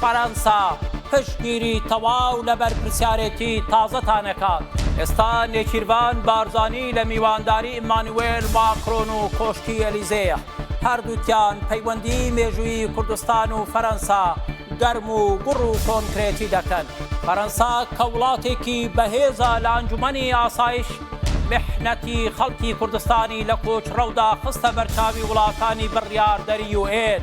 فەرەنسا پشتگیری تەواو لە بەرپرسیارێتی تازەتان ئەکات. ئێستا نێچیرڤان بارزانی لە میوانداری ئیمانوێل ماکرۆن و کۆشکی ئەلیزێیە. هەردووکیان پەیوەندیی مێژوویی کوردستان و فەرەنسا گەرم و گوڕ و کۆنکرێتی دەکەن. فەرەنسا کە وڵاتێکی بەهێزە لە ئەنجومەنی ئاسایش، میحنەتی خەڵکی کوردستانی لە کۆچڕەودا خستە بەرچاوی وڵاتانی بڕیاردەری یوئێن.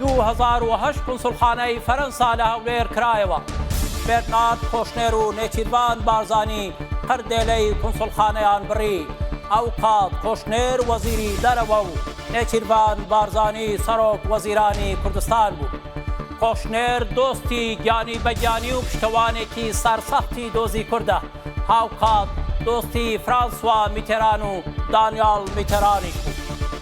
دوو هەزار و هەشت قونسوڵخانەی فەرەنسا لە هەولێر کرایەوە. بێرنارد کۆشنێر و نێچیرڤان بارزانی قردێلەی قونسوڵخانەیان بڕی. ئەوکات کۆشنێر وەزیری دەرەوە و نێچیرڤان بارزانی سەرۆک وەزیرانی کوردستان بوو. کۆشنێر دۆستی گیانی بە گیانی و پشتەوانێکی سەرسەختی دۆزی کوردە. هاوکات دۆستی فرانسوا میتێران و دانیاڵ میتێرانیش بوو.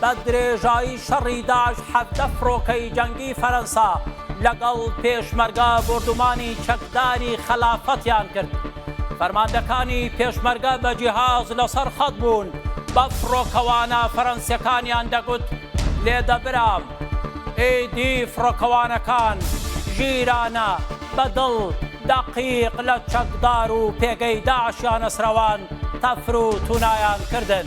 بە درێژایی شەڕی داعش حەڤدە فڕۆکەی جەنگی فەرەنسا لەگەڵ پێشمەرگە بۆردومانی چەکداری خەلافەتیان کرد. فەرماندەکانی پێشمەرگە بە جیهاز لەسەر خەت بوون، بە فڕۆکەوانە فەرەنسیەکانیان دەگوت لێدە برام. ئیدی فڕۆکەوانەکان ژیرانە، بە دڵ، دەقیق لە چەکدار و پێگەی داعشیانەسرەوان تەفر و تونایان کردن.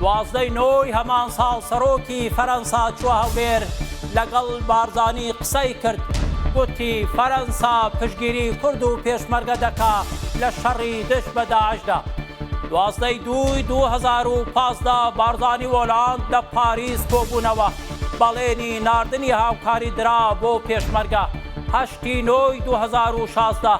دوازدە ی نۆ ی هەمان ساڵ سەرۆکی فەرەنسا چووە هەولێر لەگەڵ بارزانی قسەی کرد، گوتی فەرەنسا پشتگیری کورد و پێشمەرگە دەکا لە شەڕی دژ بە داعشدا. دوازدە ی دوو ی دوو هەزار و پازدە بارزانی و ئۆلاند لە پاریس کۆبوونەوە، بەڵێنی ناردنی هاوکاری درا بۆ پێشمەرگە، هەشت ی نۆ ی دوو هەزار و شازدە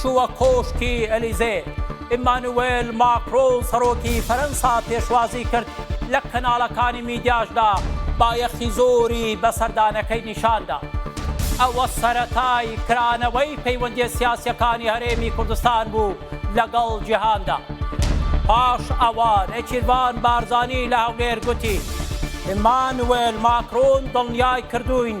چووە کۆشکی ئەلیزێ، ئیمانوێل ماکرۆن سەرۆکی فەرەنسا پێشوازی کرد، لە کەناڵەکانی میدیاشدا بایەخی زۆری بە سەردانەکەی نیشاندا. ئەوە سەرەتای کرانەوەی پەیوەندییە سیاسییەکانی هەرێمی کوردستان بوو لەگەڵ جیهاندا. پاش ئەوە نێچیرڤان بارزانی لە هەولێر گوتی، ئیمانوێل ماکرۆن دڵنیای کردووین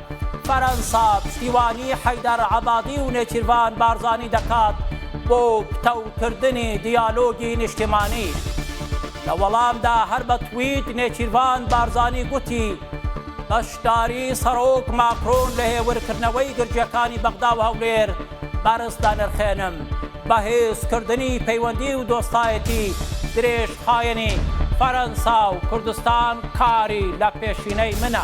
فەرەنسا پشتیوانی حەیدەر عەبادی و نێچیرڤان بارزانی دەکات بۆ پتەوکردنی دیالۆگی نیشتیمانی. لە وەڵامدا هەر بە تویت نێچیرڤان بارزانی گوتی، بەشداری سەرۆک ماکرۆن لە هێورکردنەوەی گرژییەکانی بەغدا و هەولێر بەرز دەنرخێنم، بەهێزکردنی پەیوەندی و دۆستایەتی درێژخایەنی فەرەنسا و کوردستان کاری لە پێشینەی منە.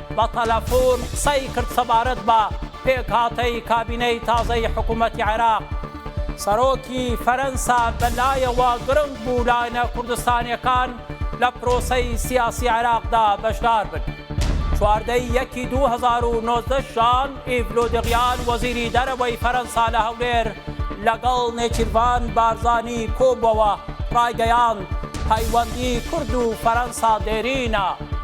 بە تەلەفون قسەی کرد سەبارەت بە پێکهاتەی کابینەی تازەی حکوومەتی عێراق. سەرۆکی فەرەنسا بە لایەوە گرنگ بوو لایەنە کوردستانییەکان لە پرۆسەی سیاسی عێراقدا بەشدار بن. چواردە ی یەکی دوو هەزار و نۆزدە ژان ئیڤ لۆدریان وەزیری دەرەوەی فەرەنسا لە هەولێر لەگەڵ نێچیرڤان بارزانی کۆبووەوە، ڕایگەیاند، پەیوەندی کورد و فەرەنسا دێرینە.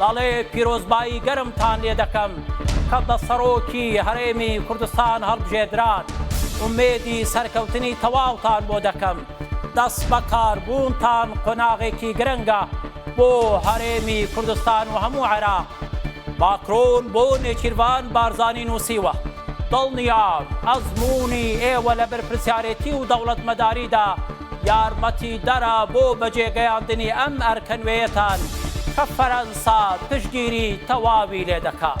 دەڵێ پیرۆزبایی گەرمتان لێ دەکەم کە بە سەڕۆکی هەرێمی کوردستان هەڵبژێدران، ئومێدی سەرکەوتنی تەواوتان بۆ دەکەم، دەستبەکاربوونتان قۆناغێکی گرنگە بۆ هەرێمی کوردستان و هەموو عێراق. ماکرۆن بۆ نێچیرڤان بارزانی نووسیوە، دڵنیام ئەزموونی ئێوە لە بەرپرسیارێتی و دەوڵەتمەداریدا، یارمەتیدەرە بۆ بەجێگەیاندنی ئەم ئەرکە نوێیەتان کە فەرەنسا پشتگیری تەواوی لێدەکات.